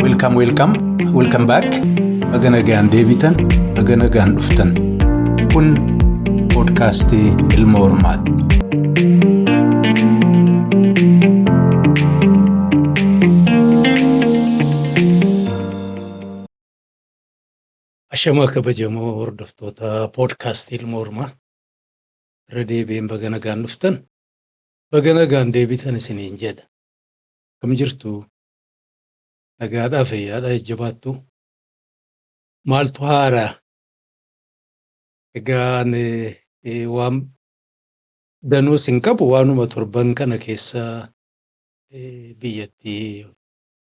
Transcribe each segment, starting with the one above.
Welcome, welcome, welcome back. Baga nagaan deebitan, baga nagaan dhuftan. Kun poodkaastii ilma hormaati. Ashamaa kabajamoo hordoftoota poodkaastii ilma hormaa. irra deebi'een baga nagaan dhuftan, baga nagaan deebitan isiniin jedha. Akkam jirtu? Nagaadhaa fayyaadhaa jajjabaattuu? Maaltu haaraa? Egaa ani eh, waan danuus hin qabu waanuma torban kana keessa eh, biyyattii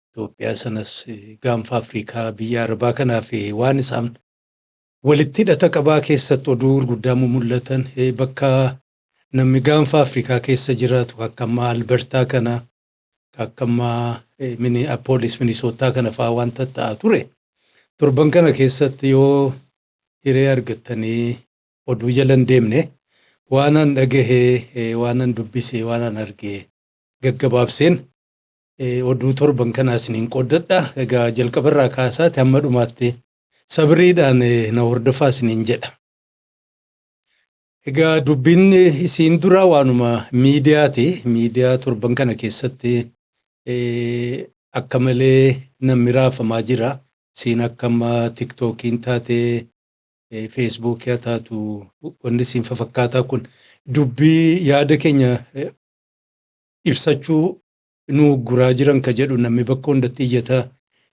Itoophiyaa sanas eh, gaanfa Afrikaa biyya Arabaa kanaaf eh, waan isaan walitti hidhata qabaa keessatti oduu gurguddaa mumul'atan bakka namni gaanfa Afrikaa keessa jiraatu ka akka ammaa Albertaa kana ka akka ammaa Minneapolis Minnesota kana fa'aa waan tatta'aa ture torban kana keessatti yoo hiree argattanii oduu jala hin deemne waanan dhagahe waanan dubbise waanan arge gaggabaabseen oduu torban kanaa isiniin qooddadha egaa jalqabarraa kaasaati hamma dhumaatti Sabriidhaan na hordofaa isiniin jedha. Egaa dubbiin isiin duraa waanuma miidiyaati. Miidiyaa torban kana keessatti akka malee namni raafamaa jira. Isiin akka amma tiktookiin taatee feesbuukii haa taatu wanni isiin fafakkaataa kun dubbii yaada keenya ibsachuu nu ugguraa jiran ka jedhu nammi bakka hundatti iyyata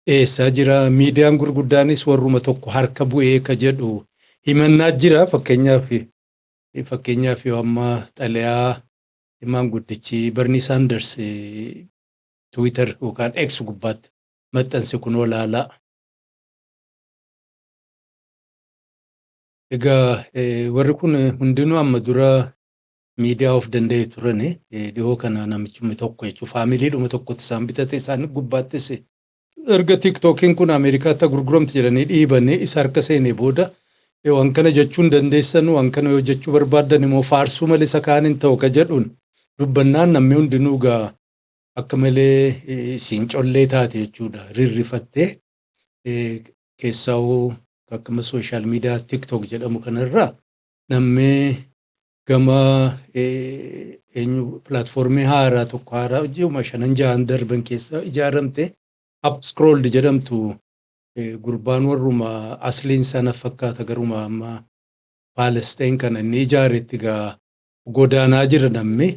dhiyeessaa jira. Miidiyaan gurguddaanis warruma tokko harka bu'ee ka jedhu himannaa jira. Fakkeenyaaf fakkeenyaaf yoo amma xalayaa himaan guddichi Barnii Saanders Twitter yookaan X gubbaatti maxxanse kunoo laalaa. Egaa warri kun hundinuu amma dura miidiyaa of danda'e turani. Dhihoo kana namichummi tokko jechuun faamiliidhuma tokkotu isaan bitate. Isaan gubbaattis. Erga TikTokiin kun Ameerikaatti gurguramti jedhanii dhiibanii isa harka seenee booda waan kana jechuu hin dandeessanu, waan kana yoo jechuu barbaaddan immoo faarsuu malee isa kaan hin ta'u ka jedhuun dubbannaan nammi hundinuu egaa akka malee isiin collee taate jechuudha. Rirrifattee keessaahuu akkuma sooshaal miidiyaa TikTok jedhamu kanarraa nammi gama eenyu pilaatfoormii haaraa tokko haaraa ji'uma shanan jahan darban keessa ijaaramte upscrolled jedhamtu gurbaan warruma asliin sana fakkaata garuma amma Paalesteen kana inni ijaaretti gaa godaanaa jira namni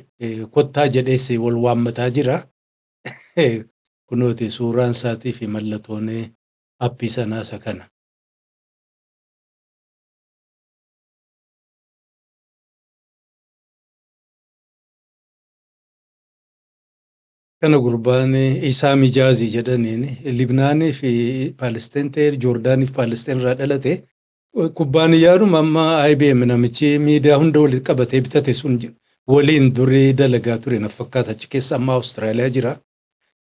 kottaa jedhees wal waammataa jira. Kunooti suuraan isaatii fi mallatoon appii sanaa isa kana. Kana gurbaan Isaam Ijaazii jedhaniin Libnaanii fi Paalisteen ta'ee Joordaanii fi Paalisteen irraa dhalate. Kubbaaniyyaadhuma amma IBM namichi miidiyaa hunda walitti qabatee bitate sun waliin durii dalagaa ture na fakkaata achi keessa amma Awustiraaliyaa jira.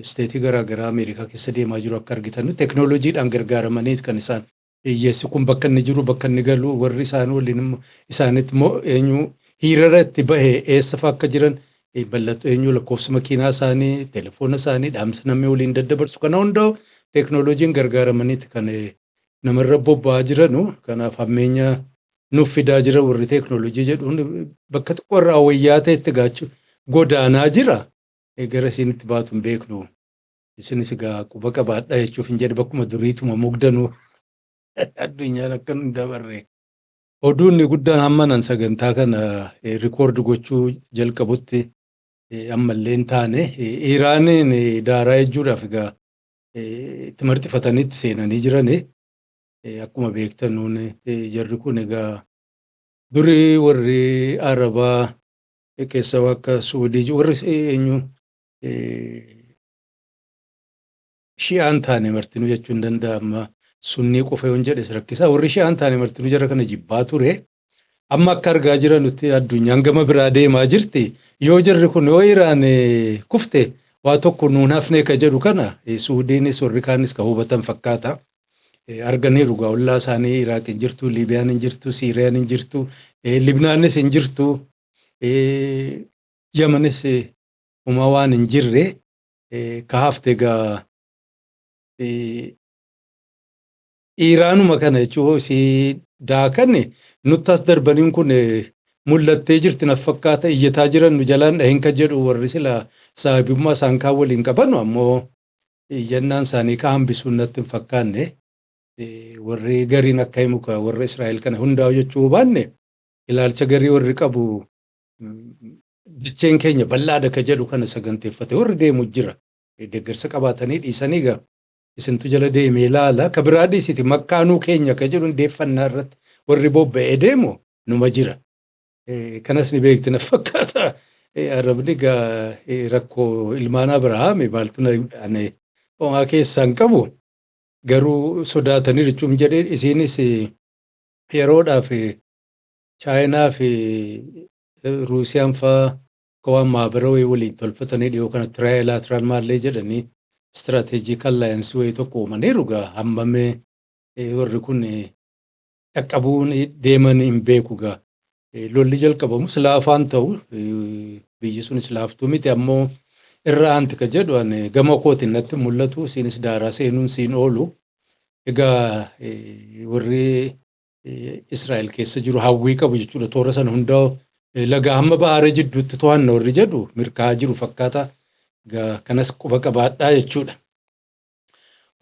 Isteetii garaa garaa Ameerikaa keessa deemaa jiru akka argitan teknooloojiidhaan gargaaramaniit kan isaan hiyyeessi kun bakka inni jiru bakka inni galu warri isaan waliin isaanitti moo eenyu hiirara itti bahe eessa fa'aa akka jiran bal'attu eenyu lakkoofsa makiinaa isaanii telefoona isaanii dhaamsa namni waliin daddabarsu kana hundaa teknooloojiin gargaaramaniiti kan namarra bobba'aa jiranu kanaaf hammeenya nuuf fidaa jira warri teknooloojii jedhuun bakka xiqqoo irraa wayyaa ta'etti gaachu godaanaa jira. Eegara isiin itti baatu hin beeknu. Isinis egaa quba qabaadhaa jechuufin jedha bakkuma duriituma mugdanuu addunyaan akka nu hin dabarre. Oduun inni guddaan hamman an sagantaa kana record gochuu jalqabutti ammallee hin taane Iiraaniin daaraa ejjuudhaaf egaa itti marxifatanii itti seenanii jirani. Akkuma beektan nuun jarri kun egaa durii warri Arabaa keessa akka Suudii warri eenyu shi'aan taane martinuu jechuu hin danda'amma. Sunnii qofa yoon jedhes rakkisaa warri shi'aan taane martinuu jara kana jibbaa ture. Amma akka argaa jiranutti addunyaan gama biraa deemaa jirti. Yoo jarri kun yoo Iraan kufte waa tokko nuun hafnee ka jedhu kana Suudiinis warri kaanis ka hubatan fakkaata. arganiiru gaa ollaa isaanii Iraaq hin jirtu, Liibiyaan hin jirtu, Siiriyaan hin jirtu, Libnaanis hin jirtu, Yamanis homaa waan hin jirre ka hafte gaa Iiraanuma kana jechuun isii daakan nutti as darbaniin kun mul'attee jirti naf fakkaata iyyataa jiran nu jalaan dhahin ka jedhu warri sila saahibummaa isaan kaan waliin qabanu ammoo iyyannaan isaanii ka hambisuun natti hin fakkaanne. Warri gariin akka himu ka warra Israa'el kana hundaa'u jechuu yoo baanne ilaalcha garii warri qabu dacheen keenya bal'aadha ka jedhu kana saganteeffate warri deemu jira. Deeggarsa qabaatanii dhiisanii gaa isintu jala deemee ilaala ka biraa dhiisiti makkaanuu keenya ka jedhu hundeeffannaa irratti warri bobba'ee deemu numa jira. Kanas ni beekti na fakkaata. Arrabni egaa rakkoo ilmaan Abrahaami maaltu na dhane homaa keessaa hin qabu. Garuu sodaatanii jechuun jedheen isiinis yeroodhaaf Chaayinaa fi Ruusiyaan faa waan maabara wayii waliin tolfatanii dhiyoo kana tiraayilaatiraal maallee jedhanii istiraateejiik allaayansii wayii tokko uumaniiru gaa hammamee warri kun dhaqqabuun deeman hin beeku gaa lolli jalqabamu silaa afaan ta'u biyyi sun islaaftuu miti ammoo irra aanti ka jedhu ani gama kootiin natti mul'atu isiinis daaraa seenuun siin oolu egaa warri Israa'el keessa jiru hawwii qabu jechuudha toora sana hundaa lagaa hamma bahaara jidduutti to'anna warri jedhu mirkaa'aa jiru fakkaata egaa kanas quba qabaadhaa jechuudha.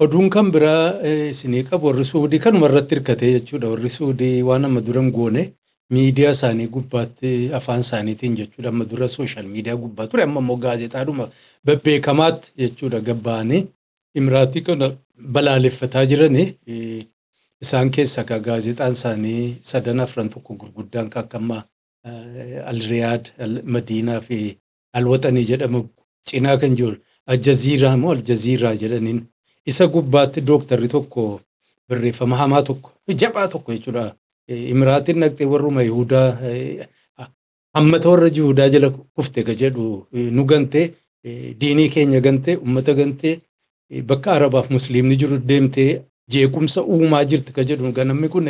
Oduun kan biraa isinii qabu warri Suudii kanuma irratti hirkatee jechuudha. Warri Suudii waan amma dura hin goone miidiyaa isaanii gubbaatti afaan isaaniitiin jechuudha. Amma dura sooshaal miidiyaa gubbaa ture amma immoo gaazexaadhuma bebbeekamaatti jechuudha gabbaanii Imiraatii kana balaaleffataa jirani. Isaan keessa ka gaazexaan isaanii sadan afran tokko gurguddaan ka akka amma Alriyaad, Madiinaa fi Alwaxanii jedhama cinaa kan jiru Aljaziiraa moo Aljaziiraa jedhaniin isa gubbaatti dooktarri tokko barreeffama hamaa tokko jabaa tokko jechuudha. Imiraatiin dhaqxee warruma Yihudaa hammata warra Yihudaa jala kufte ka jedhu nu gantee diinii keenya gantee ummata gantee bakka Arabaaf Musliimni jiru deemtee jeequmsa uumaa jirti ka jedhu ganamni kun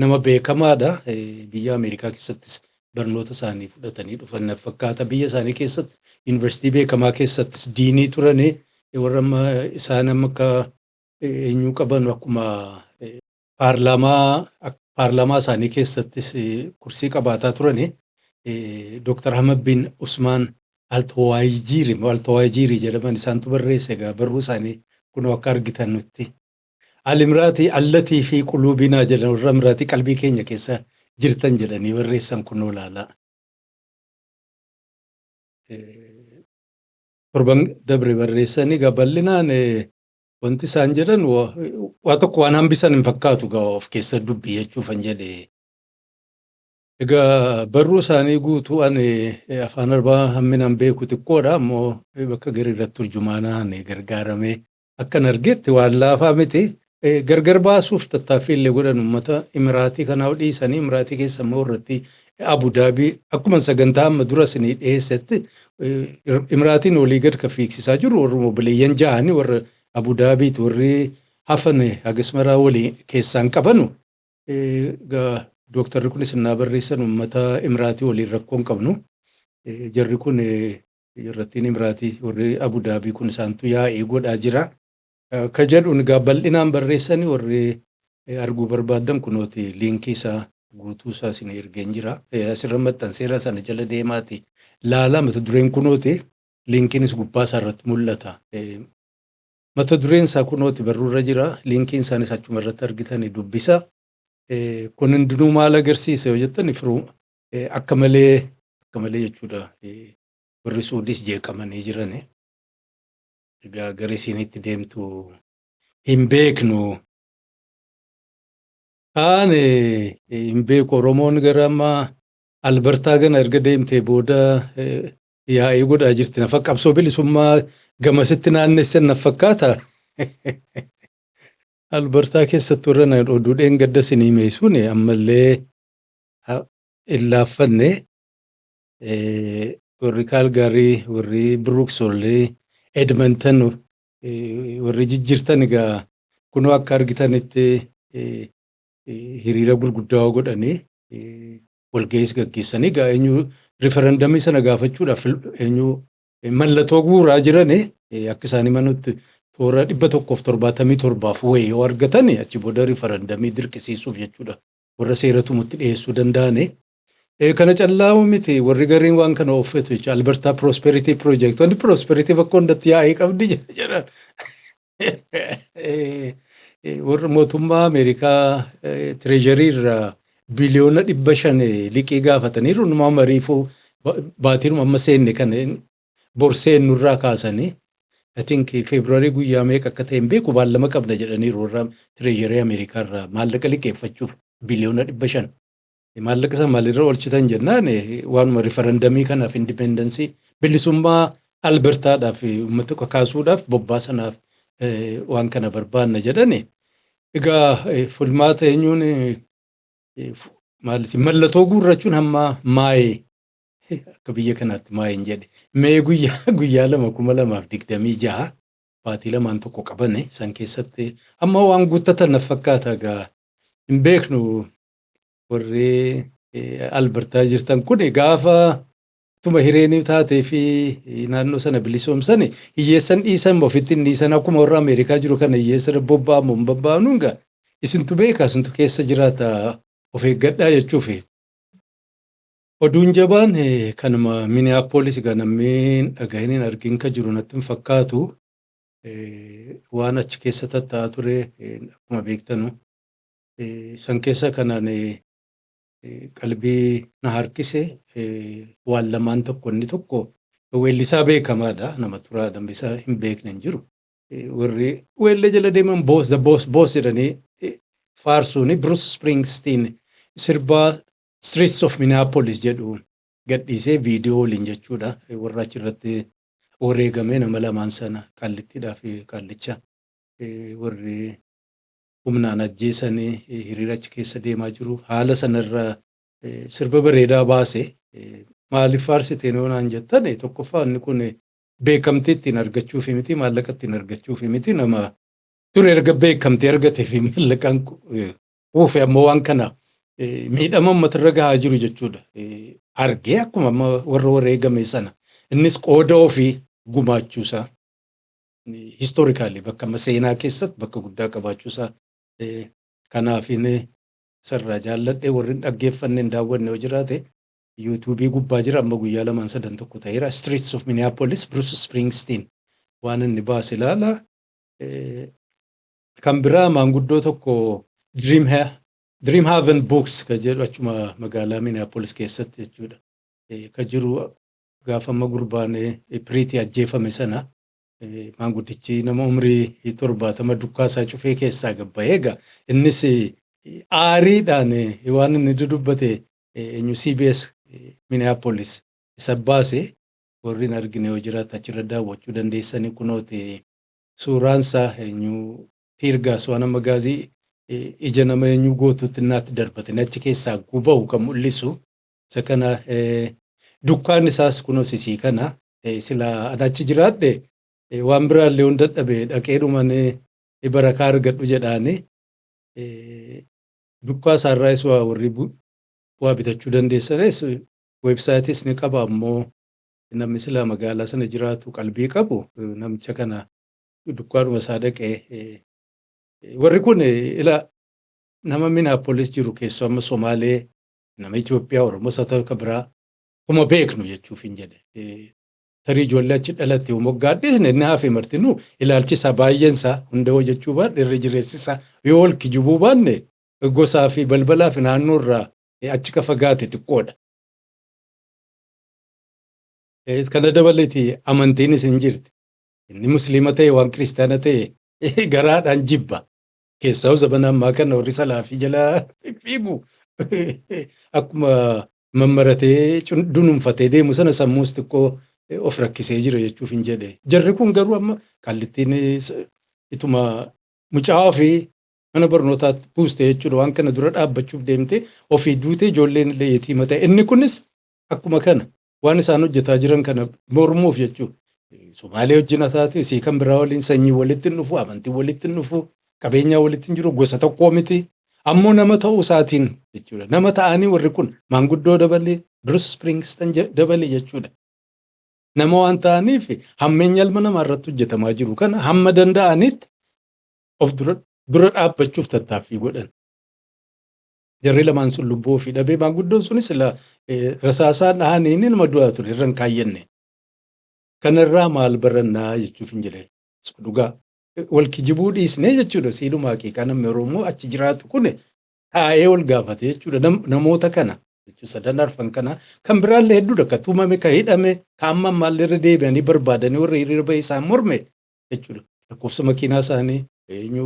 Nama beekamaadha. Biyya Ameerikaa keessattis barnoota isaanii fudhatanii dhufan natti fakkaata. Biyya isaanii keessatti yuunivarsiitii beekamaa keessattis diinii turani. Warra amma isaan amma akka eenyuu qabanu akkuma paarlaamaa paarlaamaa isaanii keessattis kursii qabaataa turani. Dooktar Ahmad bin Usmaan Altawaayijiiri Altawaayijiiri jedhaman isaantu barreesse egaa barruu isaanii kunoo akka argitan nutti Alimraati Allatii fii quluubinaa jedhan warra Imraati qalbii keenya keessa jirtan jedhanii barreessan kunoo laalaa. Torban dabre barreessanii egaa bal'inaan wanti isaan jedhan waa tokko waan hambisan hin fakkaatu egaa of keessa dubbii jechuufan jedhe. Egaa barruu isaanii guutuu ani afaan arbaa hamminaan beeku xiqqoodha ammoo bakka garii irratti turjumaanaan gargaaramee Akkan argetti waan laafaa miti. Gargar baasuuf tattaaffii illee godhan ummata Imiraatii kanaa yoo dhiisanii Imiraatii keessa immoo irratti Abu Daabii akkuman sagantaa amma dura isinii dhiyeessetti Imiraatiin olii gad kan fiigsisaa jiru warruma obboleeyyan ja'ani warra Abu Daabiiti warri hafan hagasmaraa walii keessaan qabanu. Egaa dooktarri kunis innaa barreessan ummata Imiraatii waliin rakkoo hin qabnu. Jarri kun Jarrattiin Imiraatii warri Abu Daabii kun isaantu yaa'ee godhaa jira. Ka jedhuun egaa bal'inaan barreessanii warri arguu barbaaddan kunooti liinkii isaa guutuu isaa isin ergeen jira. Asirra maxxanseera sana jala deemaati laalaa mata dureen kunooti liinkiinis gubbaa isaa irratti mul'ata. Mata dureen isaa kunooti barruu irra jira liinkiin isaanis achuma irratti argitanii dubbisa. Kun hundinuu maal agarsiisa yoo jettan Akka malee akka malee jechuudha warri suudis jeeqamanii jiran egaa gara isiinitti deemtu hin beeknu kaan hin beeku oromoon gara amma albartaa gana erga deemtee booda yaa'ii godhaa jirti nafa qabsoo bilisummaa gamasitti naannessan naf fakkaata albartaa keessattuu irra na oduu dheengadda sinii meeysuun ammallee hin laaffanne warri Kaalgaarii warri Biruuks warri Edmonton warri jijjirtan egaa kunoo akka argitanitti hiriira gurguddaa godhanii walga'iis gaggeessanii egaa eenyu riferendamii sana gaafachuudhaaf eenyu mallatoo guuraa jiranii akka isaanii manutti toora dhibba tokkoof torbaatamii torbaaf wayii yoo argatani achi booda riferendamii dirqisiisuuf jechuudha warra seera tumutti dhiheessuu danda'ani. Kana callaa miti warri gariin waan kana offetu jecha Alberta Prosperity Project wanti prosperity bakka hundatti yaa'ee qabdi jedha. Warra mootummaa Ameerikaa tireejarii irraa biliyoona dhibba shan liqii gaafataniiru numaa mariifuu baatiinuma amma seenne kana Bor seennu irraa kaasanii I think February guyyaa meeqa akka ta'e hin beeku baallama qabna jedhaniiru warra Treasury America irraa maallaqa liqeeffachuuf biliyoona 500. Maallaqa sana maalirra oolchitan jennaan waanuma rifarandamii kanaaf independence bilisummaa Albertaadhaaf uummata kakaasuudhaaf bobbaasanaaf waan kana barbaanna jedhani. Egaa fulmaata eenyuun maal isin mallatoo guurrachuun hamma maayee Akka biyya kanaatti maaliin jedhe mee guyyaa guyyaa lama kuma lamaaf digdamii ja'a baatii lamaan tokko qabane san keessatti amma waan guuttatan naf fakkaata egaa hin beeknu warri eh, albertaa jirtan kun gaafa tuma hireen taatee fi naannoo sana bilisoomsan hiyyeessan dhiisan ofitti hin dhiisan akkuma warra Ameerikaa jiru kana hiyyeessa bobba'amu hin babba'anuun gaa isintu beeka isintu keessa jiraata of eeggadhaa jechuufi. Oduun jabaan kanuma Minneapolis ga nammiin dhagahin hin argin ka jiru natti hin fakkaatu. Waan achi keessa tatta'aa ture akkuma beektanu. San keessa kanaan qalbii na harkise waan lamaan tokko inni tokko weellisaa beekamaadha nama turaa namni isa hin beekne hin jiru. Warri weellee jala deeman boos the boos boos jedhanii faarsuuni Bruce Springsteen sirbaa Streets of Minneapolis jedhu gadhiisee video waliin jechuudha warra achirratti wareegame nama lamaan sana qaallittiidhaa fi qaallicha warri humnaan ajjeesanii hiriira achi keessa deemaa jiru haala sanarra sirba bareedaa baase maaliif faarsite yoo naan jettan tokkoffaa inni kun beekamtii ittiin argachuuf miti maallaqa ittiin argachuuf miti nama dur erga beekamtii argatee fi maallaqaan Uufe ammoo waan kana miidhama uummatarra gahaa jiru jechuudha. Argee akkuma amma warra wareegame sana innis qooda ofii gumaachuusaa historically bakka amma seenaa keessatti bakka guddaa qabaachuusaa kanaafin sarraa jaalladhe warri hin dhaggeeffanne hin daawwanne yoo jiraate yuutuubii gubbaa jira amma guyyaa lamaan sadan tokko ta'eera streets of minneapolis bruce springsteen waan inni baase ilaala Kan biraa maanguddoo tokko Dream Hea- Dream Haven Books kan jedhu achuma magaalaa Minneapolis keessatti jechuudha. Eh, Kan jiru gaafa amma gurbaan eh, piriitii ajjeefame sana eh, maanguddichi nama umrii torbaatama dukkaa isaa cufee keessaa gabba eega. Innis eh, aariidhaan eh, waan inni dudubbate eh, eenyu CBS eh, Minneapolis isa baase warri hin argine yoo jiraata achirra daawwachuu dandeessanii kunooti Suuraan isaa eenyu tear gas waan amma gaazii ija nama eenyu gootuutti innaatti darbatanii achi keessaa gubahu kan mul'isu isa kana dukkaan isaas kunos isii kana sila an achi jiraadhe waan biraallee hunda dadhabe dhaqee dhuman barakaa argadhu jedhaani dukkaa isaarraa is waa warri waa bitachuu dandeessanis weebsaayitis ni qaba ammoo Namni silaa magaalaa sana jiraatu qalbii qabu namicha kana dukkaanuma isaa dhaqee warri kun ila nama Minneapolis jiru keessoo amma Somaalee nama Itoophiyaa Oromoo isaa ta'u kan biraa kuma beeknu jechuuf hin jedhe. Tarii ijoollee achi dhalate moggaa dhiisne inni hafe martinuu ilaalchi isaa baay'een isaa hunda hojjechuu baadhe irra jireessi isaa yoo wal kijibuu baanne gosaa fi balbalaa fi naannoo irraa achi ka fagaate xiqqoodha. Is kana dabaleti amantiinis hin jirti. Inni musliima ta'e waan kiristaana ta'e garaadhaan jibba. Keessaa zabana ammaa kana warri salaafii jala fiigu akkuma mammaratee cun- dunuunfatee deemu sana sammuus xiqqoo eh, of rakkisee jira jechuuf hin jedhe. Jarri kun garuu amma qaallittiin eh, s- ituma mucaa ofii mana barnootaatti buuste jechuudha waan kana dura dhaabbachuuf deemte ofii duute ijoolleen illee yetiima ta'e. Inni kunis akkuma kana waan isaan hojjetaa jiran kana mormuuf jechuudha. Somaalee wajjin haa taatu isii kan biraa waliin sanyii walitti hin dhufu, amantiin walitti hin dhufu, qabeenyaa walitti hin jiru, gosa tokkoo miti. Ammoo nama ta'uu isaatiin jechuudha. Nama ta'anii warri kun maanguddoo dabalee, Bruce Springsteen je- dabalee jechuudha. Nama waan ta'aniif hammeenya ilma namaa irratti hojjetamaa jiru kana hamma danda'anitti of dura, dura dhaabbachuuf tattaaffii godhan. Jarri lamaan sun lubbuu ofii dhabee maanguddoon suni sila rasaasaa dhahanii inni nama du'aa ture irra hin kaayyanne. Kanarraa maal barannaa jechuuf hin jedhe. Isa dhugaa. Wal kijibuu dhiisnee jechuudha siidhuma haqiiqaa namni Oromoo achi jiraatu kune taa'ee wal gaafate jechuudha namoota kana jechuu sadan arfan kana kan biraallee hedduudha ka tumame ka hidhame ka amma ammaallee irra deebi'anii barbaadanii warra hiriira ba'e isaan morme jechuudha lakkoofsa makiinaa isaanii eenyu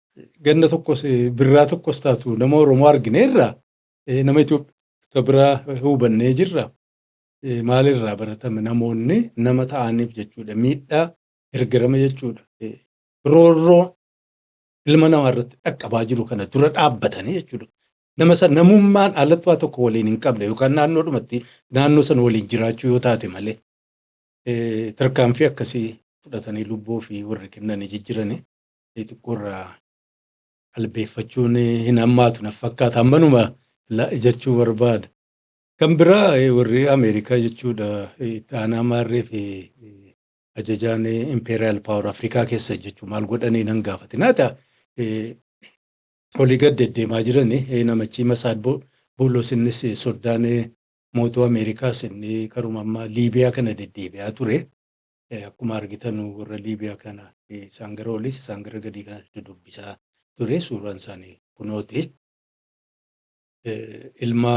ganna tokkos birraa tokkos taatu nama Oromoo argineerra nama Itoophiyaa biraa hubannee jirra. Maalirraa baratame namoonni nama ta'aniif jechuudha miidhaa ergerama jechuudha roorroo ilma namaa irratti dhaqqabaa jiru kana dura dhaabbatanii jechuudha. Nama san namummaan alatti waa tokko waliin hin qabne yookaan naannoodhumatti naannoo san waliin jiraachuu yoo taate malee tarkaanfii akkasii fudhatanii lubbuu fi warri kennanii jijjiranii ishee xiqqoo irraa qalbeeffachuun hin hammaatu naf fakkaata hammanuma la- jechuu barbaada. Kan biraa eh, warri Ameerikaa jechuudha eh, itti aanaa maarree fi eh, ajajaan eh, Imperial Power Afrikaa keessa jechuun maal godhanii nan gaafate. Naata eh, olii gad deddeemaa jirani eh, namichi Masaad Bo- Boolos innis eh, soddaan eh, mootuu Ameerikaas inni karuma ammaa Liibiyaa kana deddeebi'aa ture. akkuma argitan warra Libya kana isaan gara oliis isaan gara gadii kanas dudubbisaa ture suuraan isaanii kunooti. Ilma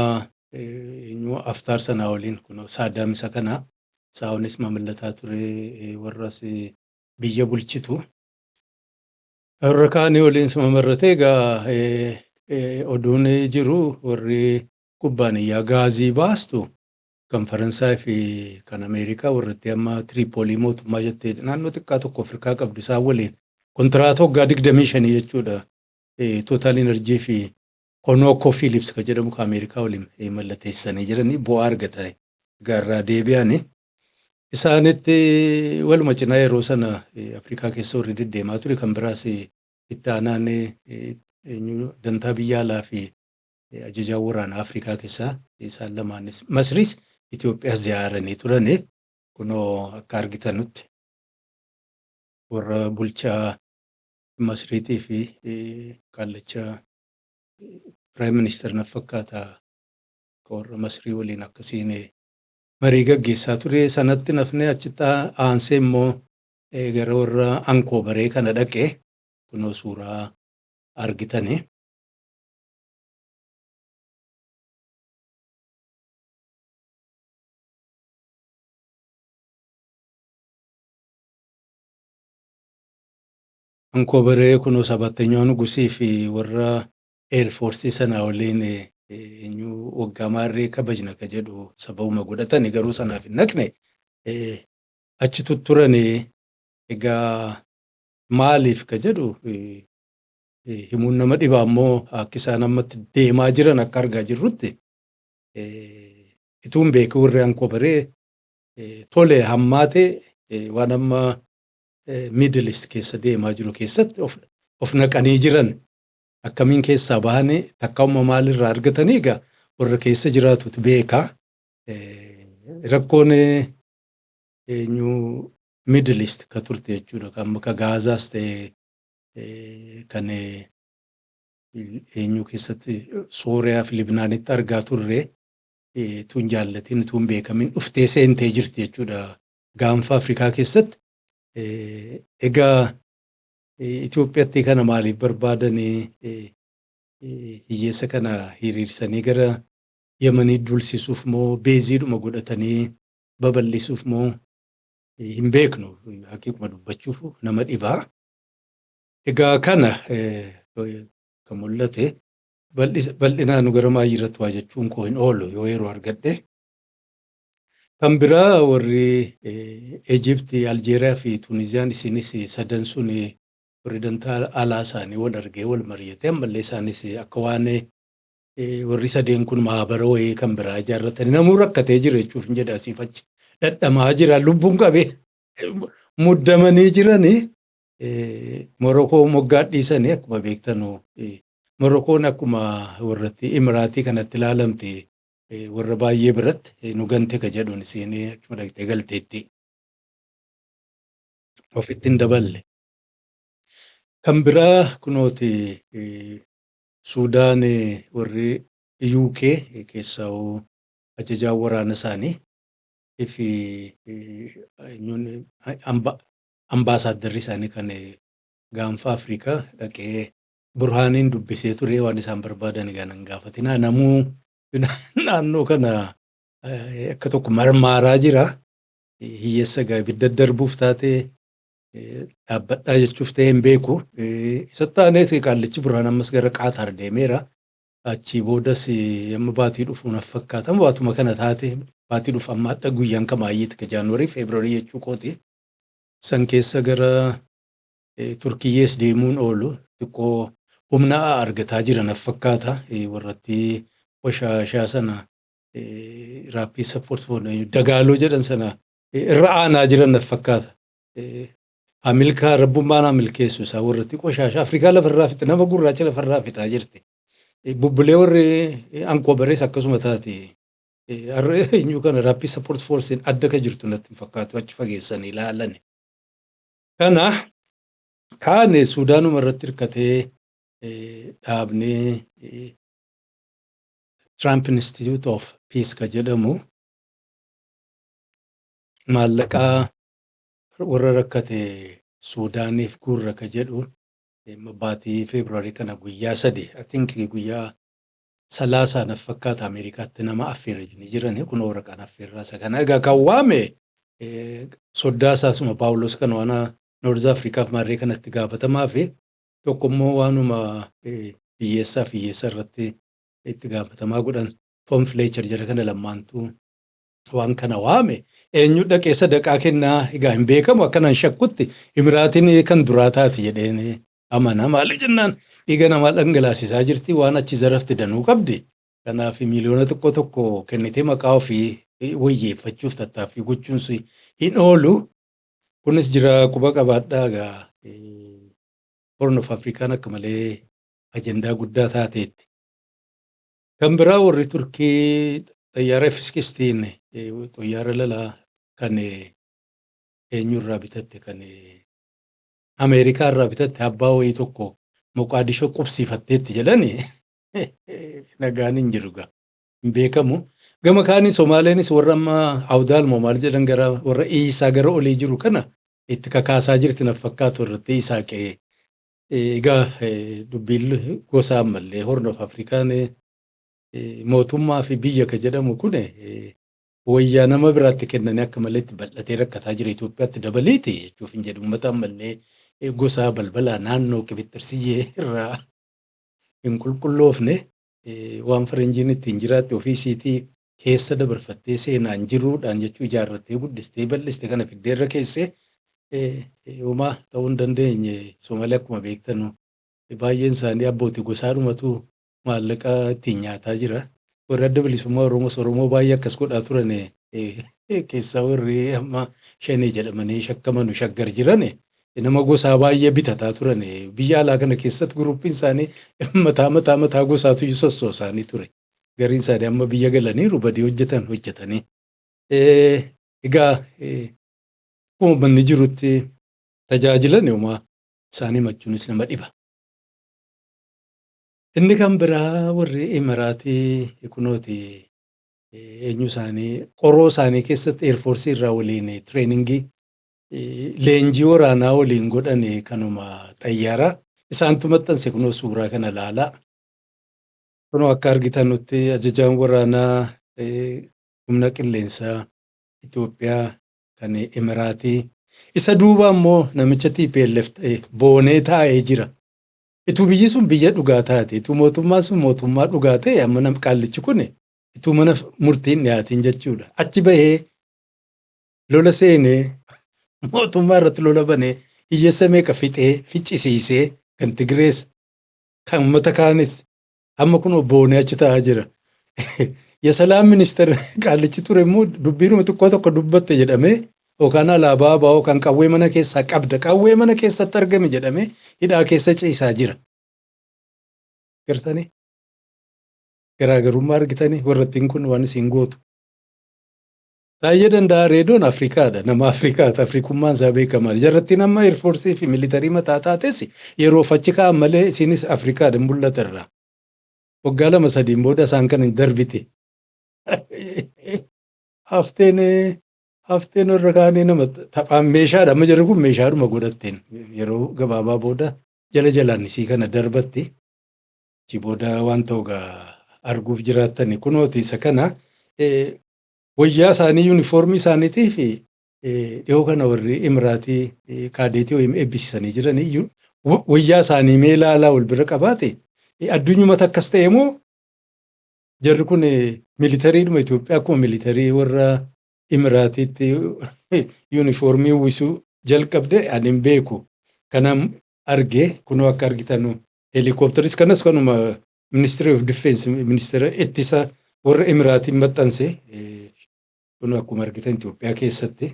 eenyu Aftaar sanaa waliin kunoo Saadaam isa kana saawunis mamallataa ture warras biyya bulchitu. Warra kaanii waliin isa mamarratee egaa oduun jiru warri kubbaaniyyaa gaazii baastu kan Faransaay fi kan Ameerikaa warratti amma Tiriipoolii mootummaa jette naannoo xiqqaa tokko Afrikaa qabdi isaan waliin kontiraata waggaa digdamii shanii jechuudha Total Energy fi Conoco Philips kan jedhamu kan Ameerikaa waliin mallateessanii jiranii bu'aa argataa gaarraa deebi'anii isaanitti waluma cinaa yeroo sana Afrikaa keessa warri deddeemaa ture kan biraas itti aanaan dantaa biyya alaa fi ajajaan waraanaa Afrikaa keessaa isaan lamaanis Masriis Itoophiyaa ziyaaranii turani. Kunoo akka argitanutti warra bulchaa Masriitii fi kaallacha Piraayim Ministeer na fakkaata akka warra Masrii waliin akkasiin marii gaggeessaa ture sanatti nafne achitti aansee immoo gara warra Ankoobaree kana dhaqe kunoo suuraa argitani. Ankoo baree kunoo sabattanyoo nugusii fi warra air force sanaa waliin eenyuu waggaa maarree kabajna ka jedhu sababuma godhatani garuu sanaaf hin dhaqne achi tutturani egaa maaliif ka jedhu himuun nama dhiba ammoo akka isaan ammatti deemaa jiran akka argaa jirrutti ituun beekee warri ankoo baree tole hammaate waan amma middle east keessa deemaa jiru keessatti of naqanii jiran akkamiin keessaa bahanii takka amma maalirraa argatanii egaa warra keessa jiraatutu beeka. Rakkoon eenyu middle east ka turte jechuudha kan akka gaazaas ta'e kan eenyuu keessatti Sooriyaa fi Libnaanitti argaa turre utuu hin jaallatiin utuu hin beekamin dhuftee seentee jirti jechuudha. Gaanfa Afrikaa keessatti egaa Itoophiyatti kana maaliif barbaadanii hiyyeessa kana hiriirsanii gara Yamanii duulsisuuf moo beeziidhuma godhatanii babal'isuuf moo hin beeknu haqiiquma dubbachuuf nama dhibaa. Egaa kana kan mul'ate bal'inaan gara maayyii irratti waa jechuun koo hin oolu yoo yeroo argadhe. Kan biraa warri Ejipti, Aljeeriyaa fi Tuniziyaan isinis sadan sun pirezidantii alaa isaanii wal argee wal mari'ate ammallee isaanis akka waan warri sadeen kun maabara wayii kan biraa ijaarratanii namuu rakkatee jira jechuuf hin jedha asiif achi dhadhamaa jira lubbuun qabee muddamanii jiranii Morokoo moggaa dhiisanii akkuma beektanu Morokoon akkuma warratti Imiraatii kanatti ilaalamti warra baay'ee biratti nu gante ka jedhuun isiin achuma dhaqxee galteetti. Ofitti hin daballe. Kan biraa kunooti Suudaan warri UK keessaa ajajaan waraana isaanii fi eenyuun ambaasaaddarri isaanii kan gaanfa Afrikaa dhaqee Burhaaniin dubbisee ture waan isaan barbaadan egaa nan gaafatinaa namuu naannoo kana akka tokko marmaaraa jira. Hiyyeessa egaa ibidda darbuuf taatee dhaabbadhaa jechuuf ta'ee hin beeku. Isa taaneeti qaallichi Burhaan ammas gara Qaataar deemeera. Achii boodas amma baatii dhufu naf fakkaata amma baatuma kana taate baatii dhufu amma hadha guyyaan kama ayyiiti ka January February jechuu kooti. San keessa gara eh, Turkiyyees deemuun oolu xiqqoo humna a argataa jira naf fakkaata eh, warratti qoshaashaa sana eh, rapid support for dagaaloo jedhan sana eh, irra aanaa jiran naf fakkaata. Eh, Haa milkaa rabbummaan haa milkeessu isaa warratti qoshaasha Afrikaa lafarraa fixe nama gurraacha lafarraa fixaa jirti. Eh, Bubbulee warri eh, ankoobarees akkasuma taati. Eh, Har'a eenyu kana raappii support force'n adda ka jirtu natti hin fakkaatu achi fageessanii ilaalani. Kana kaane Suudaanuma irratti hirkatee eh, dhaabni eh, Trump Institute of Peace ka jedhamu maallaqaa Warra rakkate Suudaaniif guurra ka jedhu amma baatii February kana guyyaa sadi I think guyyaa salaasaa naf fakkaata Ameerikaatti nama affeerajni jirani kunoo waraqaan affeerraa isa kana egaa kan waame soddaa isaasuma Paawulos kana waana North Afrikaaf maarree kanatti gaafatamaa fi tokko immoo waanuma hiyyeessaa fi hiyyeessa irratti itti gaafatamaa godhan Tom Fletcher jara kana lammaantuu waan kana waame eenyu dhaqee sadaqaa kennaa egaa hin beekamu akkanan shakkutti imiraatiin kan duraa taati jedheen amana maaliif jennaan dhiiga namaa dhangalaasisaa jirti waan achi zarafte danuu qabdi kanaaf miliyoona tokko tokko kennitee maqaa ofii wayyeeffachuuf tattaaffii gochuun sun hin oolu kunis jira quba qabaadhaa egaa horn of afrikaan akka malee ajandaa guddaa taateetti. Kan biraa warri Turkii xayyaara F-16 xiyyaara lalaa kan eenyurraa bitatte kan Ameerikaa irraa bitatte abbaa wayii tokko Moqaadishoo qubsiifatteetti jedhani nagaan hin jiru gaa hin beekamu. Gama kaanii Somaaleenis warra amma Awdaal moo maal jedhan gara warra Iisaa gara olii jiru kana itti kakaasaa jirti naf fakkaatu irratti Iisaa qe'ee Egaa dubbiin gosaa ammallee Horn of Afrikaan mootummaa fi biyya ka jedhamu kun wayyaa nama biraatti kennanii akka malee itti bal'atee rakkataa jira Itoophiyaatti dabaliiti jechuuf hin jedhu uummata ammallee gosaa balbalaa naannoo qibixxirsiyyee irraa hin qulqulloofne waan faranjiin ittiin jiraatte ofii isiitii keessa dabarfattee seenaan jirruudhaan jechuu ijaarrattee guddistee bal'iste kana fiddee irra keessee yooma ta'uu hin dandeenye Somaalee akkuma beektanu baay'een isaanii abbooti gosaadhumatu maallaqa ittiin nyaataa jira. Warri adda bilisummaa Oromoos Oromoo baay'ee akkas godhaa turan keessaa warri amma shanee jedhamanii shakkamanu shaggar jiran nama gosaa baay'ee bitataa turan biyya alaa kana keessatti guruupiin isaanii mataa mataa mataa gosaatu sossoosaanii ture. gariin isaanii amma biyya galaniiru badii hojjetan hojjetanii. Egaa akkuma manni jirutti tajaajilan yooma isaanii machuunis nama dhiba. Inni kan biraa warri Imiraatii kunooti eenyu isaanii qoroo isaanii keessatti eerfoorsii irraa waliin tireeningii leenjii waraanaa waliin godhan kanuma xayyaaraa isaantu maxxanse kunoo suuraa kana laalaa. Kunoo akka argitan nutti ajajaan waraanaa humna qilleensaa Itoophiyaa kan Emiraatii isa duuba ammoo namicha tplf ta'e boonee taa'ee jira. Ituu biyyi sun biyya dhugaa taate, ituu mootummaan sun mootummaa dhugaa ta'e amma nam qaallichi kun ituu mana murtii hin dhiyaatiin jechuudha. Achi bahee lola seenee mootummaa irratti lola banee hiyyeessa meeqa fixee ficcisiisee kan Tigirees kan ummata kaanis amma kun obboonee achi taa'aa jira. Yesalaam ministeer qaallichi ture immoo dubbiinuma xiqqoo tokko dubbatte jedhamee yookaan alaabaa abaa'oo kan qawwee mana keessaa qabda qawwee mana keessatti argame jedhamee hidhaa keessa ciisaa jira. Gartanii garaagarummaa argitanii warrattiin kun waan isiin gootu. Baay'ee danda'a Reedoon Afrikaadha. Nama Afrikaati. Afrikummaan isaa beekamaadha. Jarrattiin amma eerfoorsii fi militarii mataa taates yeroof achi ka'an malee isiinis Afrikaadha hin mul'ata irraa. Waggaa lama sadiin booda isaan kana hin darbite. Hafteen hafteen warra kaanii nama taphaan meeshaadha. Amma jarri kun meeshaadhuma godhatteen yeroo gabaabaa booda jala jalaan isii kana darbatti. Achi booda waan ta'u gaa arguuf jiraattani kunooti isa kana. wayyaa isaanii yuunifoormii isaaniitii fi dhihoo kana warri Imiraatii kaadeetii wayim eebbisiisanii jiran wayyaa isaanii mee laalaa wal bira qabaate addunyumata akkas ta'e moo jarri kun militariidhuma Itoophiyaa akkuma militarii warra Imiraatiitti yuunifoormii uwwisuu jalqabde ani hin beeku. Kanaan arge kunoo akka argitanu heelikooptaris kanas kanuma Ministry of Defense Ministeera Ittisa warra Emiraatiin maxxanse. Kun akkuma argitan Itoophiyaa keessatti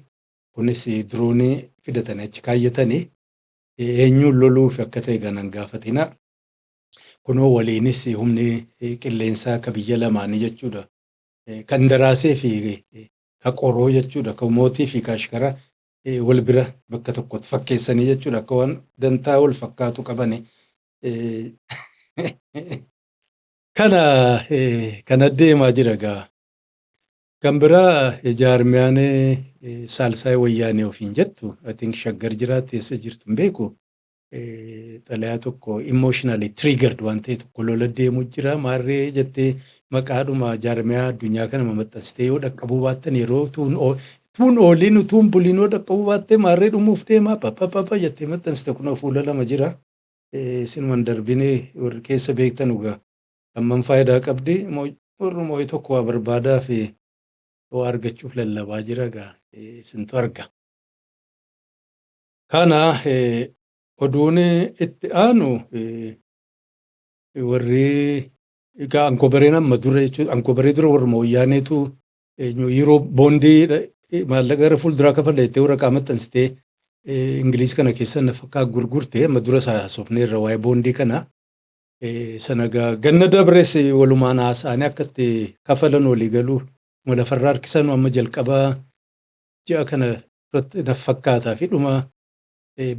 kunis diroonii fidatanii achi kaayyatanii eenyuun loluuf akka ta'e ganan gaafatina. Kunoo waliinis humni qilleensaa ka biyya lamaanii jechuudha. Kan daraasee fi ka qoroo jechuudha. Ka mootii fi ka ashkara wal bira bakka tokkotti fakkeessanii jechuudha. Akka waan dantaa wal fakkaatu qabanii Kana kan addeemaa jira gaa. Kan biraa jaarmiyaan Saalsaay Wayyaanee ofiin jettu I think Shaggar jiraatti eessa jirtu hin beeku. Xalayaa tokko emotionally triggered waan ta'e tokko lola deemu jira maarree jettee maqaadhuma jaarmiyaa addunyaa kana mamaxxansitee yoo dhaqqabuu baattan yeroo tuun tuun ooliin utuun buliinoo dhaqqabuu baattee maarree dhumuuf deemaa papa papa jettee maxxansite kunoo fuula lama jira. isinuma hin darbine warri keessa beektanu gaa hammam faayidaa qabdi warruma wayi tokko waa barbaadaa fi waa argachuuf lallabaa jira gaa isintu arga. Kana oduun itti aanu warri egaa ankobareen amma dura jechuudha ankobaree dura warruma wayyaaneetu yeroo boondii maallaqa gara fuulduraa kafalle jettee waraqaa maxxansitee Ingiliiz kana keessa na fakkaa gurgurte amma dura isaa haasofne irra waa'ee boondii kana sana ganna dabrees walumaan haasa'anii akka itti kafalan walii galuu lafarraa harkisanuu amma jalqaba ji'a kana irratti na fakkaataa fi dhuma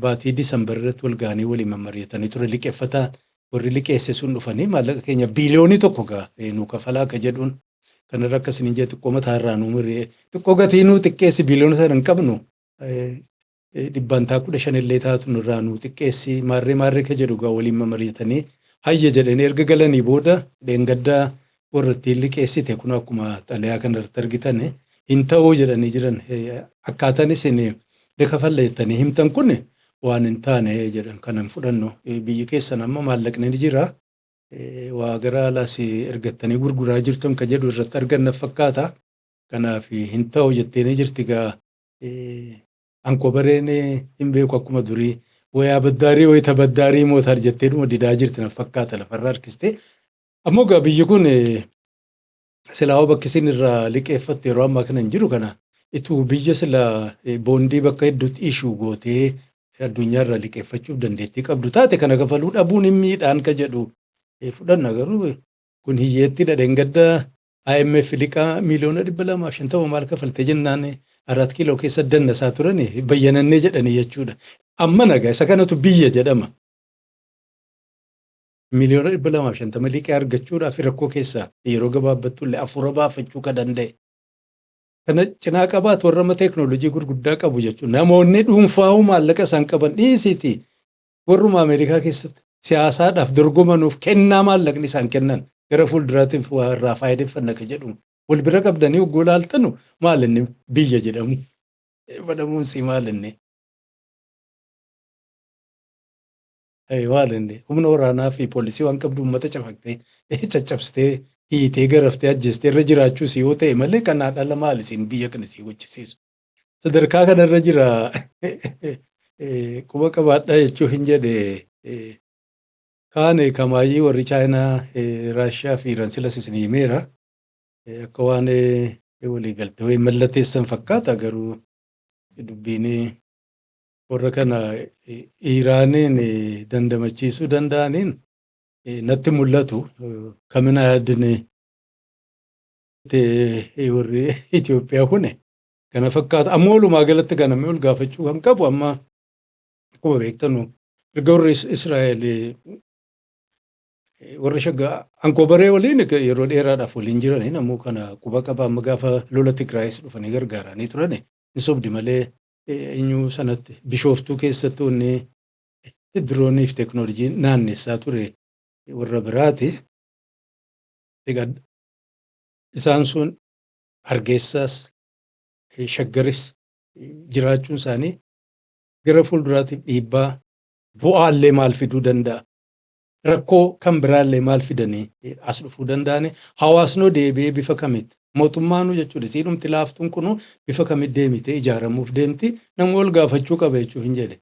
baatii December irratti wal gahanii waliin mammariyatanii ture liqeffataan warri liqeesse sun dhufanii maallaqa keenya biiliyoonii tokko gaa nu kafalaa akka jedhuun kanarra akka isiniin jedhe xiqqoo mataa irraa nu muree xiqqoo gatii nuu xiqqeessi biiliyoona sana hin qabnu dhibbantaa kudha shan illee taatu nurraa nuu xiqqeessi maarree maarree ka jedhu gaa waliin mammariyatanii hayya jedhanii erga galanii booda dheengaddaa warra ittiin liqeessite kun akkuma xalayaa kana irratti argitan hin ta'uu jedhanii jiran akkaataan isin ni kafalla jettanii himtan kun waan hin taane jedhan kana hin fudhannu biyyi keessan amma maallaqni ni jira waa gara alaas ergattanii gurguraa jirtan ka jedhu irratti arganna fakkaata kanaaf hin ta'u jettee ni jirti gaa ankobareen hin beeku akkuma durii wayaa baddaarii wayita baddaarii mootaar jetteedhuma didaa jirti na fakkaata lafarra harkistee Ammoo egaa biyyi kun silaa hoo bakki isin irraa liqeeffattu yeroo ammaa kana hin jiru kana ituu biyya sila boondii bakka hedduutti ishuu gootee addunyaa irraa liqeeffachuuf dandeettii qabdu taate kana kafaluu dhabuun hin miidhaan ka jedhu fudhanna garuu kun hiyyeettiidha dheengadda IMF liqaa miiliyoona dhibba lamaaf shantama maal kafalte jennaan araat kiiloo keessa danna isaa turani bayyanannee jedhanii jechuudha. Amma nagaa isa kanatu biyya jedhama. miliyoona 250 liqii argachuudhaafi rakkoo keessaa yeroo gabaabbattulle afuura baafachuu ka danda'e. Kana cinaa qabaatu warra amma teeknoolojii gurguddaa qabu jechuun namoonni dhuunfaahuu maallaqa isaan qaban dhiisiiti warruma Ameerikaa keessatti siyaasaadhaaf dorgomanuuf kennaa maallaqni isaan kennan gara fuulduraatiif waa irraa faayideffanna ka jedhu wal bira qabdanii hogguu ilaaltanu maal inni biyya jedhamu banamuunsii maal inni. Ee maal inni humna waraanaa fi poolisii waan qabdu uummata cafaqxee eh, caccabsitee hiitee garaftee ajjeestee irra jiraachuu si yoo ta'e malee kan haadha lama haali siin biyya kana sii gochisiisu. Sadarkaa kanarra jira Eh, quba qabaadhaa jechuu hin jedhe eh, kaan eh, kamaayyii warri chaayinaa eh, raashiyaa fi iran silas isin himeera Eh, akka waan eh, waliigaltee wayii mallateessan fakkaata garuu dubbiin eh, warra kana Iiraaniin dandamachiisuu danda'aniin natti mul'atu kamina yaadne warri Itoophiyaa kune kana fakkaata. Amma walumaa galatti ganamee ol gaafachuu kan qabu amma akkuma beektanu erga warri Israa'el warra shaggaa ankoobaree waliin yeroo dheeraadhaaf waliin jiranii namuu kana quba qaba amma gaafa lola Tigraayis dhufanii gargaaranii turani hin sobdi malee Eenyu sanatti Bishooftuu keessatti wanni diroonii fi teeknooloojiin naannessaa ture warra biraati. Egaa isaan sun Hargeessaas Shaggaris jiraachuun isaanii gara fuulduraatiif dhiibbaa bu'aa illee maal fiduu danda'a rakkoo kan biraallee maal fidanii as dhufuu danda'ani? Hawaasnoo deebi'ee bifa kamiit mootummaanuu jechuudha isiidhumti laaftuun kunuu bifa kamiit deemite ijaaramuuf deemti namuu wal gaafachuu qaba jechuuf hin jedhe.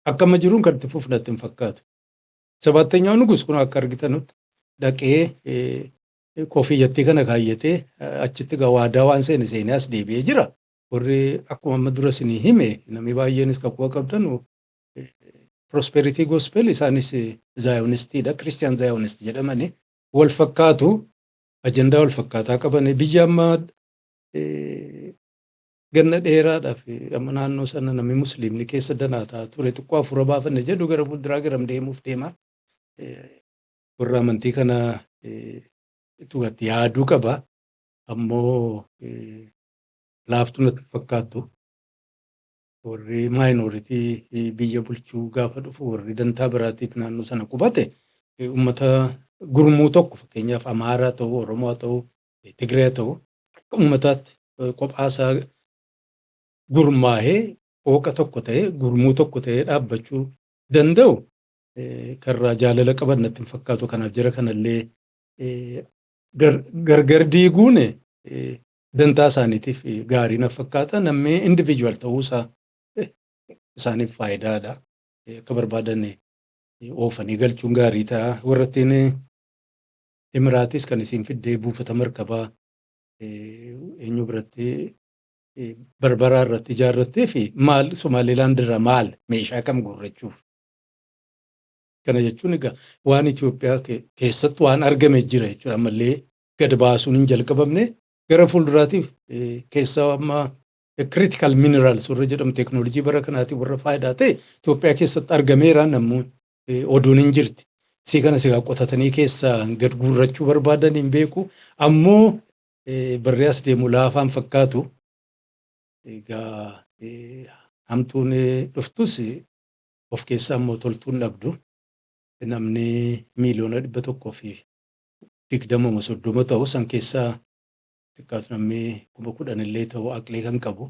Akka amma jiruun kan itti fufu natti hin fakkaatu. Sabaattenyaw Nugus kunoo akka argitanutti dhaqee kofiyyattii kana kaayyatee achitti gaa waadaa waan seene seenee as deebi'ee jira. Warri akkuma amma dura isinii hime namni baay'eenis kakuu qabdanu prosperity gospel isaanis zaayonistiidha Christian Zionist jedhamani wal fakkaatu ajandaa wal fakkaataa qabani biyya amma eh, ganna dheeraadhaaf amma naannoo sana namni musliimni keessa danaataa ture xiqqoo hafuura baafanne jedhu gara fuulduraa garam deemuuf deema Eh, warra amantii kana eh, dhugatti yaaduu qaba ammoo eh, laaftuu natti hin fakkaattu warri maayinooritii biyya bulchuu gaafa dhufu warri dantaa biraatiif naannoo sana qubate uummata gurmuu tokko fakkeenyaaf Amaaraa haa ta'u, Oromoo haa ta'u, Tigree haa ta'u akka uummataatti kophaasaa gurmaahee qooqa tokko ta'ee gurmuu tokko ta'ee dhaabbachuu danda'u karraa jaalala qaban natti hin fakkaatu kanaaf jara kanallee gargar diiguun dantaa isaaniitiif gaarii na fakkaata. Namni individual ta'uu isaa isaaniif faayidaadha. Akka barbaadan oofanii galchuun gaarii ta'a. Warra ittiin Imiraatis kan isin fiddee buufata markabaa eenyu biratti barbaraa irratti ijaarrattee fi maal Somaalilaand irraa maal meeshaa kam guurrachuuf. Kana jechuun egaa waan Itoophiyaa keessatti waan argame jira jechuudha. Ammallee gad baasuun hin jalqabamne. Gara fuulduraatiif keessaa amma critical minerals warra jedhamu teeknooloojii bara kanaatiin warra faayidaa ta'e Itoophiyaa keessatti argameera namni oduun hin jirti. Isii kana sigaa qotatanii keessaa gad guurrachuu barbaadan hin beeku. Ammoo barri as deemu laafaan fakkaatu. Egaa hamtuun dhuftus of keessaa immoo toltuun dhabdu. Namni miiliyoona dhibba tokkoo fi 20 ma 30 ta'u san keessaa xiqqaatu namni 10,000 illee ta'u aqlii kan qabu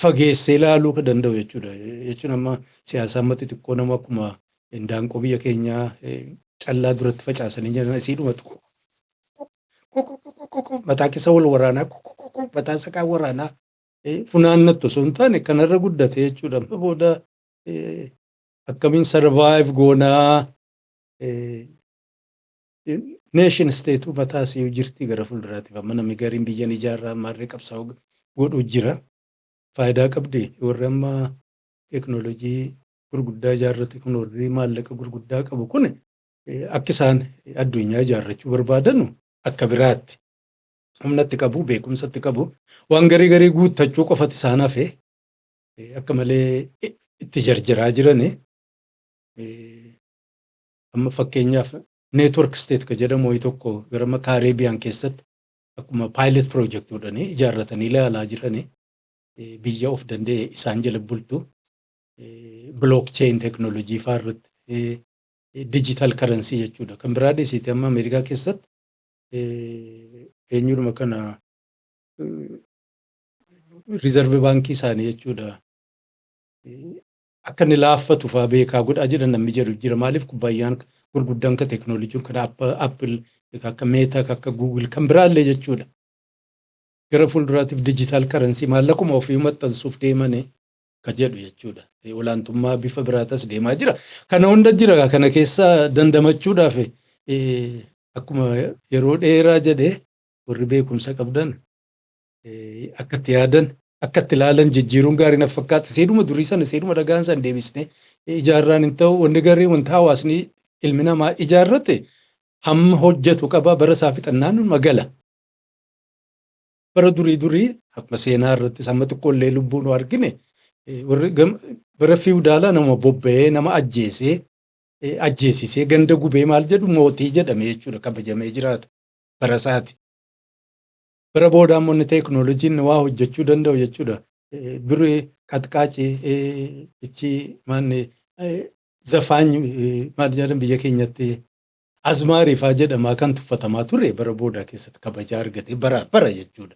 fageessee ilaaluu kan danda'u jechuudha. Jechuun amma siyaasaan matti xiqqoo nama akkuma indaanqoo biyya keenyaa callaa duratti facaasanii jiran asiidhuma mataa keessa wal waraanaa mataa saqaa waraanaa funaannattu osoo hin taane kanarra guddate jechuudha. Amma booda akkamiin sarvaayiv goonaa Nation state hubataa siyu jirti gara fulduratif amma namni gariin biyya ni ijaarra maarree qabsaa'u godhu jira faayidaa qabdi warri amma technology gurguddaa ijaarrate kun warri maallaqa gurguddaa qabu kun akki isaan addunyaa ijaarrachuu barbaadanu akka biraatti humnatti qabu beekumsatti qabu waan garii garii guuttachuu qofati isaan hafe akka malee itti jarjaraa jirani Amma fakkeenyaaf Network State ka jedhamu wayi tokko garama Caribbean keessatti akkuma pilot project godhanii ijaarratanii ilaalaa jirani. Biyya of danda'e isaan jala bultu. Block chain technology faa irratti digital currency jechuudha. Kan biraa dhiisiiti amma Ameerikaa keessatti eenyudhuma kana reserve baankii isaanii jechuudha. akka inni laaffatu faa beekaa godhaa jedhan namni jedhu jira maaliif kubbaayyaan gurguddaan ka teeknooloojiin kan appil akka meetaa akka guugil kan biraallee jechuudha gara fuulduraatiif dijitaal karansii maallaquma ofii maxxansuuf deemanii ka jedhu jechuudha olaantummaa bifa biraatas deemaa jira kana hunda jira kana keessa dandamachuudhaaf akkuma yeroo dheeraa jedhee warri beekumsa qabdan akka itti yaadan akka itti ilaalan jijjiiruun gaarii na fakkaata. Seeduma durii sana seeduma dhagaan sana deebisnee ijaarraan hin ta'u wanni garee wanta hawaasni ilmi namaa ijaarrate hamma hojjetu qaba bara isaa fixannaan magala. Bara durii durii amma seenaa irrattis amma xiqqoollee lubbuu nu argine warri bara fiwudaalaa nama bobba'ee nama ajjeesee ajjeesisee ganda gubee maal jedhu mootii jedhame jechuudha kabajamee jiraata bara isaati. Bara booda ammoo inni teeknooloojiin waa hojjechuu danda'u jechuudha. Duri qaxqaaci ichi maanni zafaany maal jedhan biyya keenyatti azmaarii faa jedhamaa kan tuffatamaa ture bara boodaa keessatti kabajaa argatee baraaf bara jechuudha.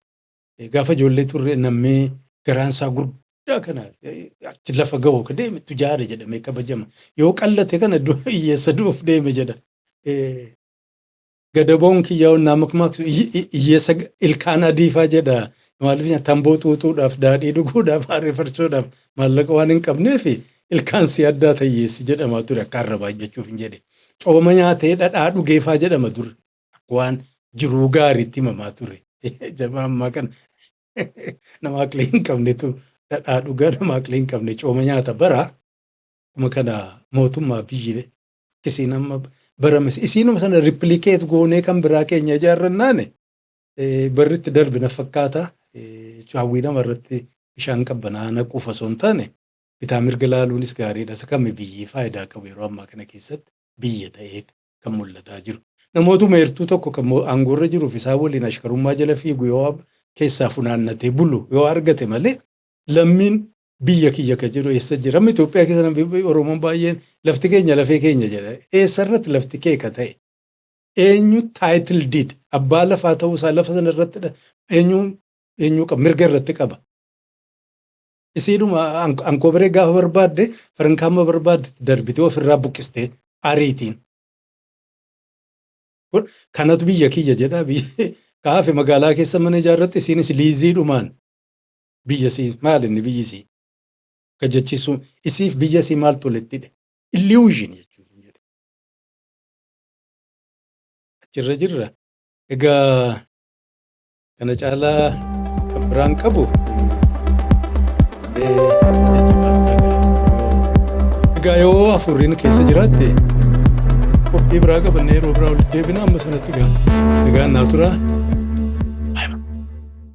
Gaafa ijoollee turre namni garaan isaa guddaa kana achi lafa ga'u ka deeme tujaara jedhamee kabajama. Yoo qallate kana hiyyeessa du'uuf deeme jedha. gadaboon kiyya onnaa makmaaksu hiyyeessa ilkaan adiifaa jedha maaliif tamboo xuuxuudhaaf daadhii dhuguudhaaf haaree farsoodhaaf maallaqa waan hin qabneef ilkaan si addaa tayyeessi jedhamaa ture akka arrabaa jechuuf hin jedhe cooma nyaatee dhadhaa dhugeefaa jedhama dur akka waan jiruu gaariitti himamaa ture jabaa ammaa kana nama aqlii hin qabnetu dhadhaa dhugaa nama aqlii hin qabne cooma nyaata bara kuma kana mootummaa biyyi akkisiin amma barames isiinuma sana ripilikeet goonee kan biraa keenya ijaarrannaane barri itti darbe na fakkaata hawwii nama irratti bishaan qabbanaa'aa naquuf osoo hin taane bitaa mirga laaluunis gaariidha isa kami biyyi faayidaa qabu yeroo ammaa kana keessatti biyya ta'ee kan mul'ataa jiru namootuma heertuu tokko kan aangoorra jiruuf isaa waliin ashkarummaa jala fiigu yoo keessaa funaannatee bulu yoo argate malee lammiin biyya kiyya kan jedhu eessa jira? Amma Itoophiyaa keessa namni Oromoon baay'een lafti keenya lafee keenya jedha. Eessa irratti lafti kee ka ta'e? Eenyu title deed abbaa lafaa ta'uu isaa lafa sana irratti dha. Eenyu eenyu qaba mirga irratti qaba. Isiidhuma an- ankoobaree gaafa barbaadde farankaamma barbaadde darbitee ofirraa buqqistee ariitiin. Kun kanatu biyya kiyya jedha. Biyya- Kaafe magaalaa keessa mana ijaarratti isiinis liiziidhumaan biyya isii maal inni biyyi isii akka jechiisuun isiif biyya isii maaltu walitti hidhe illusion jechuun hin jedhe achirra jirra egaa kana caalaa kan biraan qabu eh, jajjabaadhaa gara egaa yoo hafuurri nu keessa jiraatte qophii biraa qabanne yeroo biraa walitti deebina amma sanatti gaa egaa naa turaa